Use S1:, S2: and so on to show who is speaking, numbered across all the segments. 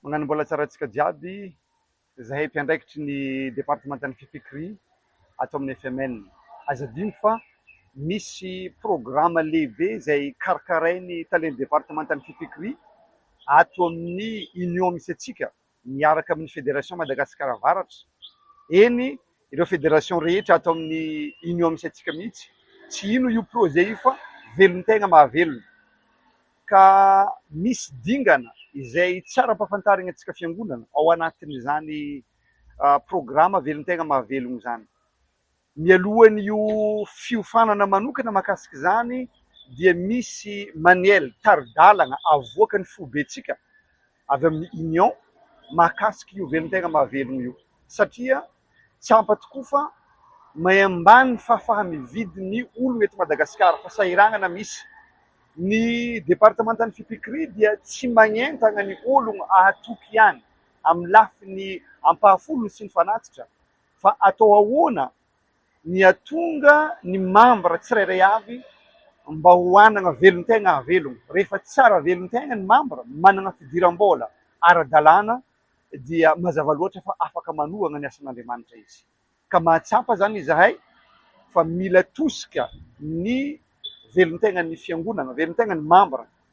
S1: Mañano mbola tsara antsika jiaby zahay mpiandraikitry ny departemantan'ny fifikria ato amin'ny FML. Aza adino fa misy programa lehibe izay karakarain'ny talen'ny departemantan'ny fifikria ato amin'ny union misy antsika. miaraka amin'ny Fédération Madagascar Avaratra, eny ireo Fédération rehetra ato amin'ny Union misy antsika mihitsy, tsy hino io projet io fa velon-tegna mahavelona, ka misy dingana izay tsy ara-pahafantaragna antsika fiangonana ao anatin'izany programa velon-tegna mahavelogno izany. Mialohan'io fiofanana manokana mahakasika izany dia misy manuel, tari-dalana, avoakan'ny foibentsika avy amin'ny Union mahakasika io velon-tegna mahavelogno io satria tsy ampa tokoa fa may ambany ny fahafaha-mividy ny ologno eto Madagasikara fa sahiragnana misy. Ny departemantan'ny fipikri dia tsy magnentagna ny ologno ahatoky ihany amin'ny lafiny ampahafolony sy ny fanatitra Fa atao ahoana ny hatonga ny mambra tsirairay avy mba ho hanana velon-tegna hahavelogno? Rehefa tsara velon-tegna ny mambra, manana fidiram-bola ara-dalàna, dia mazava loatra fa afaka manohagna ny asan'Andriamanitra izy. Ka mahatsapa izany izahay fa mila tosika ny velon-tegnan'ny Fiangonagna, velon-tegnan'ny mambra,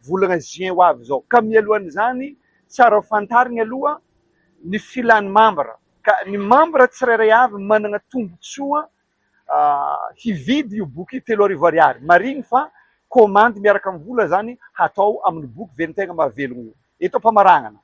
S1: volana juin ho avy izao. Ka mialohan'izany, tsara ho fantarina aloha ny filan'ny mambra. Ka ny mambra tsirairay avy manana tombontsoa hividy io boky telo arivo ariary. Marihiny fa komandy miaraka amin'ny vola izany hatao amin'ny boky Velon-tegna Mahavelogno io. Eto am-pamaranana,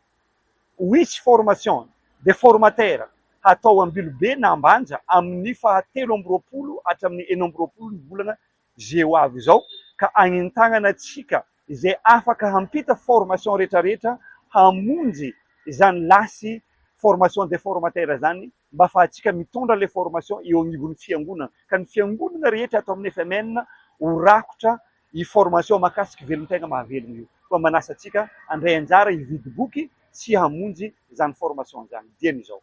S1: Which formation dia formatera hatao Ambilobe na Ambanja amin'ny faha telo amby roapolo hatramin'ny enina amby roapolo ny volana izay ho avy izao ka anentanana antsika izay afaka hampita formation rehetra rehetra hamonjy izany lasy formation des formateurs izany mba fahatsika mitondra ilay formation eo anivon'ny fiangonana ka ny fiangonana rehetra ato amin'ny FMN ho rakotra io formation mahakasika velon-tegna mahavelogna io koa manasa antsika handray anjara hividy boky sy hamonjy izany formation izany dieny izao.